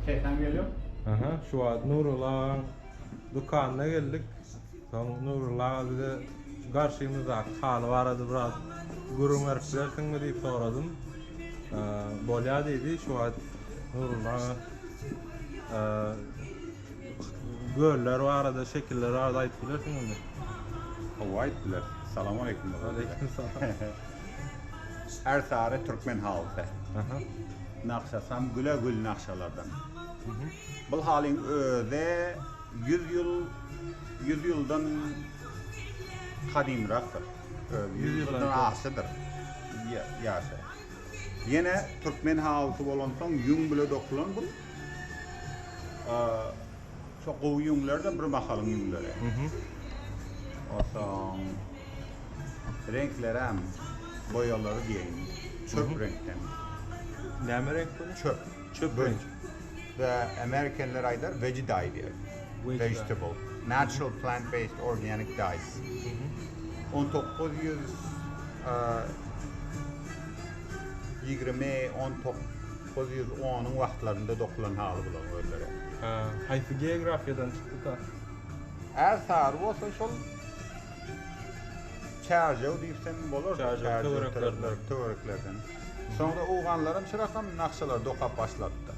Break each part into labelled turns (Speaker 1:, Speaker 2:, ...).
Speaker 1: Sesem geliyor. Aha, şu wagt
Speaker 2: Nurulla agaň dükanyna geldik. Soň Nurulla aga bize garşymyzdaky haly barada biraz gürrüň berip bilersiňmi diýip soradym. Bolýar diýdi. Şu wagt Nurulla aga göller barada, şekiller barada aýdyp bilersiňizmi? Hawa
Speaker 1: aýdyp bileris. Salam aleýkum. Aleýkum salam.
Speaker 2: Ärsary
Speaker 1: türkmen halysy.
Speaker 2: Nagşasam
Speaker 1: güle gül nagşalardan. Bul halyň özi ýüz ýyl ýüz ýyldan gadymrakdyr. Ýüz ýyldan agşydyr ýaşy. Ýene türkmen halysy bolansoň ýüň bile dokulan bul. Şo gowy ýüňler-de bir mahalyň ýüňleri. Onsoň reňklerem, boýalary diýeýin, çöp reňkden. Näme
Speaker 2: reňk bu? Çöp. Çöp reňk.
Speaker 1: Bä, amerikenler aýdar veggie dye diýer. Vegetable.
Speaker 2: Natural
Speaker 1: plant based organic dyes. On dokuz ýüz ýigrimi, on tok. Ol ýüz onuň wagtlarynda dokulan haly bular özleri. Haýsy
Speaker 2: geografiýadan çykdyka?
Speaker 1: Ärsary bolsa şol Çärjew diýsem bolar, Çärjew
Speaker 2: töwereklerden.
Speaker 1: Soňra owganlaram şu rakam nakşalary dokap başlapdyr.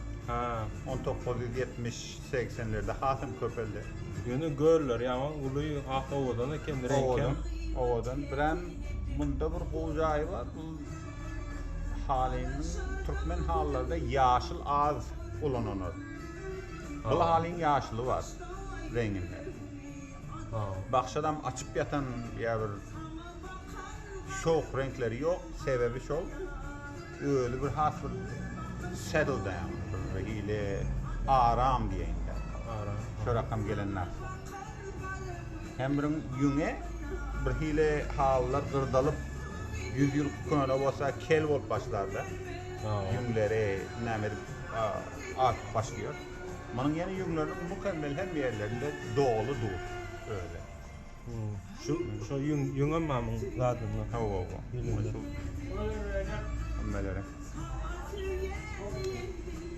Speaker 1: On
Speaker 2: dokuz ýüz ýetmiş,
Speaker 1: segsenlerde hasam köpeldi. Ýöne göller
Speaker 2: ýaman uly, has owadan eken, reňkem. Owadan, owadan. Birem
Speaker 1: munda bir gowy jaýy bar. Halyny türkmen halylarda ýaşyl az ulanylar. Bu halyň ýaşyly bar reňinde.
Speaker 2: Bakşadam
Speaker 1: açyk ýatan ýa bir şowk reňkleri ýok. Sebäbi şol özi bir has bir settle down, bir hili aram diýeýin. Aram. Şorakam
Speaker 2: gelenler.
Speaker 1: Hemriň ýüňi birhili halylar gyrdalyp, ýüz ýyl köne bolsa kel bolup başlardy.
Speaker 2: Ýüňleri
Speaker 1: näme edip artyp başlaýar. Munuň ýene ýüňleriniň mukemmel hemme ýerlerinde doly dur özi.
Speaker 2: Şu şu ýüň ýüňem mamyň zadyndan hawa-wa. Hemmelere.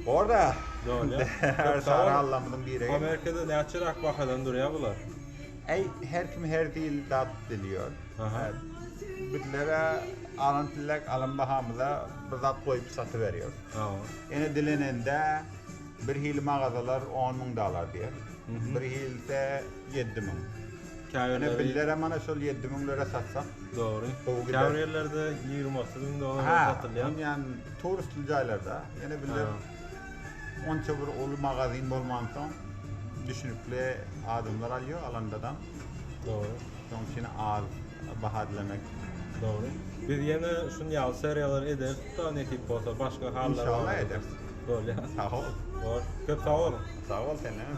Speaker 1: Orda. Döwle.
Speaker 2: Her sar
Speaker 1: allamyň biri. Amerikada näçe rak
Speaker 2: bahadan durýar bular? Eý, her
Speaker 1: kim her dil dat bilýär. Aha.
Speaker 2: Bizlere
Speaker 1: alan pillek alan bahamyza bir zat goýup satyberýär. Hawa. Ene
Speaker 2: dilenende
Speaker 1: Bir hili magazalar on müň dalar diýer. Bir hilise ýedi müň. Ine bizlerem mana
Speaker 2: şol ýedi
Speaker 1: müňlere satsak. Dogry. Gowy gider.
Speaker 2: Käbir ýerlerde
Speaker 1: ýigrimi
Speaker 2: otuz müň dolara satylýar. Hä, ýan turistli
Speaker 1: jaýlarda. Ýene bizler onça bir uly magazin bolmansoň, düşünikli adamlar alýar, alandadan. Dogry.
Speaker 2: Şoň üçin
Speaker 1: az baha dilemek. Dogry.
Speaker 2: Biz ýene şun ýaly seriýalar ederis huda nesip bolsa başga hallar. Inşallah ederis.
Speaker 1: Bolýa.
Speaker 2: Sag bol. Bor. Köp sag
Speaker 1: bol. Sag
Speaker 2: bol sen hem.